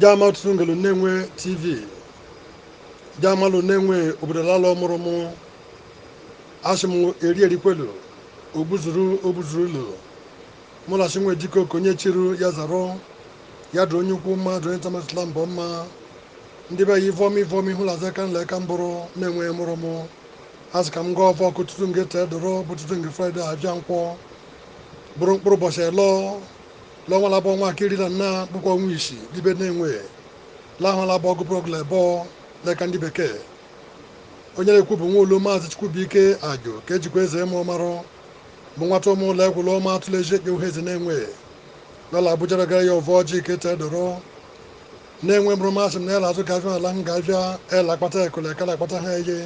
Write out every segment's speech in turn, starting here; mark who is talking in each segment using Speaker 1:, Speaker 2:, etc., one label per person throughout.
Speaker 1: jaama ọtụtụ ngelu nenwe tv jaamalụ nenwe obodo la ala ọ mụrụ mụ asị m eri erikwelu ogbuzuru ogbuzuru ụlọ mụ na asị nwe jikọ ka onye chiru ya zarụ ya dụ onye ukwu mma dụ onye tamasịla mbọ mma ndị be ya ivọma ivọma hụ laza ka nla ka mbụrụ nenwe mụrụ mụ asị ka m gọọ ọfọ ke ụtụtụ nge tee dọrọ bụ ụtụtụ nge fraịde avịa nkwọ bụrụ mkpụrụ ụbọchị elọ l'ọnwa labọ nwa akiri na nna bụkwa ọnwa isii l'ibe nenwe lahụlabọ ọgụ prọgụl ebọ n'aka ndị bekee onye na-ekwu bụ nwa ulu maazị chukwubuike ajụ ka e jikwa eze mmụọ marụ bụ nwata ụmụ ụlọ egwụlọ ọma atụla eji ekpe uhueze nenwe lọ la abuja gara ya ọvọ ọjị ke tee dọrọ nenwe mụrụ m asị m na ya na-azụ ga avịa ala m ga avịa el akpata ekụla ekala akpata ha eye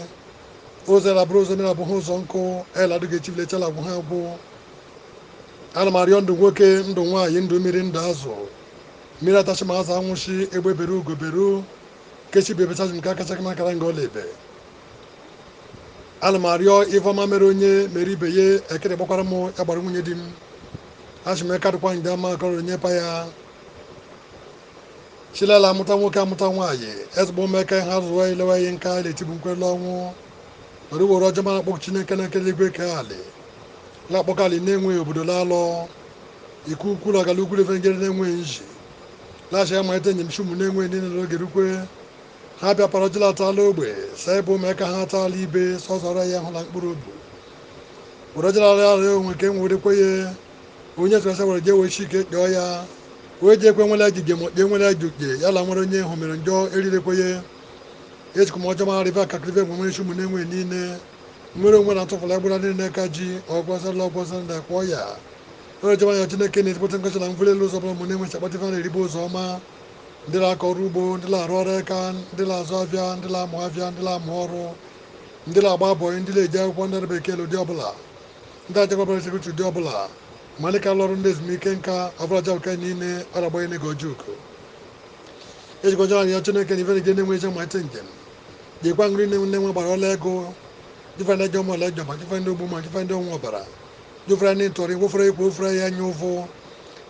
Speaker 1: ụzọ labụrụ ụzọ mmiri abụghị ụzọ nkụ eladụ ga echi bile echi la-agwụ ha agwụ ana m arịọ ndụ nwoke ndụ nwaanyị ndụ mmiri ndụ azụ mmiri atachi ma azụ anwụchi egbe bere ugo beru ke sị ibe ebechazi nke akacha gị makara nga ọ la-ebe ana m arịọ ifeọma mere onye mere ibe ya ekere gbakwara m ya gbara nwunye di m asị m eka dịkwa nje ama akọrọ onye pa ya chilala amụta nwoke amụta nwaanyị ezigbo mmeka ihe azụwa ilewa ihe nke ala etibu nkwele ọnwụ were were ọjị ọma a kpọkuo chineke nna kele igwe kee alị la-akpọku alị nenwe obodo laalọ ike ukwu na agala ukwu refengere nenwe nji lachi ya malite njem chị ụmụ nenwe niile n'oge rukwe ha bịa para ọjọla atala ogbe saa ebe ụmụaka ha atala ibe sọsọrọ ya hụ na mkpụrụ obi were ọjọla ara onwe ka e nwerekwe ya onye sọrọ sawara je wee chike kpọọ ya wee jee kwe nwere ajụjụ ma kpee nwere ajụjụ ya la nwere onye hụ mere njọ erirekwenye echekwa m ọjọọ mara ife akakịrịfe mgbe nwere chị ụmụ nenwe niile nwere onwe na atụfụla agbara niile n'aka ji ọgwọsala ọgwọsala ndị akpọ ya onye jọba ya chineke nna ezigbote nkọcha na mbuli elu ụzọ ọbụla ụmụ nenwe si akpata ife na-eribe ụzọ ọma ndị na-akọ ọrụ ugbo ndị na-arụ ọrụ aka ndị na-azụ avịa ndị na-amụ avịa ndị na-amụ ọrụ ndị na-agba bọyị ndị na-eje akwụkwọ ndị bekee ụdị ọbụla Ndị achakwabara sekuriti ụdị ọbụla malika lọrụ ndị ezumike nka abụrajabụka niile aragbanye n'ego ojuku ejikọjara arịọ chineke na ifere gị Nenwe ije mmalite njem jikwa nri nne Nenwe gbara ọla ego jife ndị jọm ọla jọm ma jife ndị ogbu mma jife ndị ọṅụ ọbara jufere ndị ntọrị wofere ikwu ofere ya anya ụfụ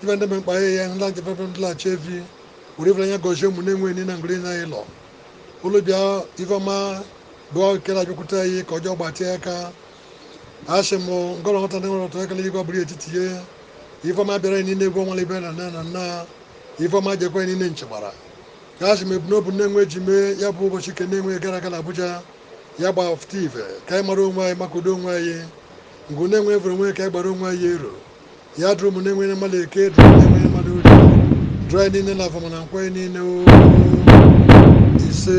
Speaker 1: jife ndị mkpa ya ya ndị ajefefe ndị la-achị efi were ifere anya gọzie ụmụ Nenwe ni na ngiri na ịlọ ụlụ bịa ifeọma bụọ nke na-abịakwute anyị ke ọjọọ gbatịa aka asị m ngọrọ nwata ndị nwere ọtụ akala igwe bụrụ etiti ihe ifeọma bịara anyị niile egwu ọnwale ibe na nne na nna ifeọma jekwa anyị niile nchegbara ka asị m ebumnobi Nenwe ji mee ya bụ ụbọchị ke Nenwe gara aga na Abuja ya gbafụta ife ka anyị mara onwe anyị maka udo onwe anyị ngụ Nenwe evere onwe ka anyị gbara onwe anyị ero ya dụrụ m na-enwere mmadụ eke dụrụ m na-enwere mmadụ orie dụrụ anyị niile na afọ ma na nkwọ anyị niile o ise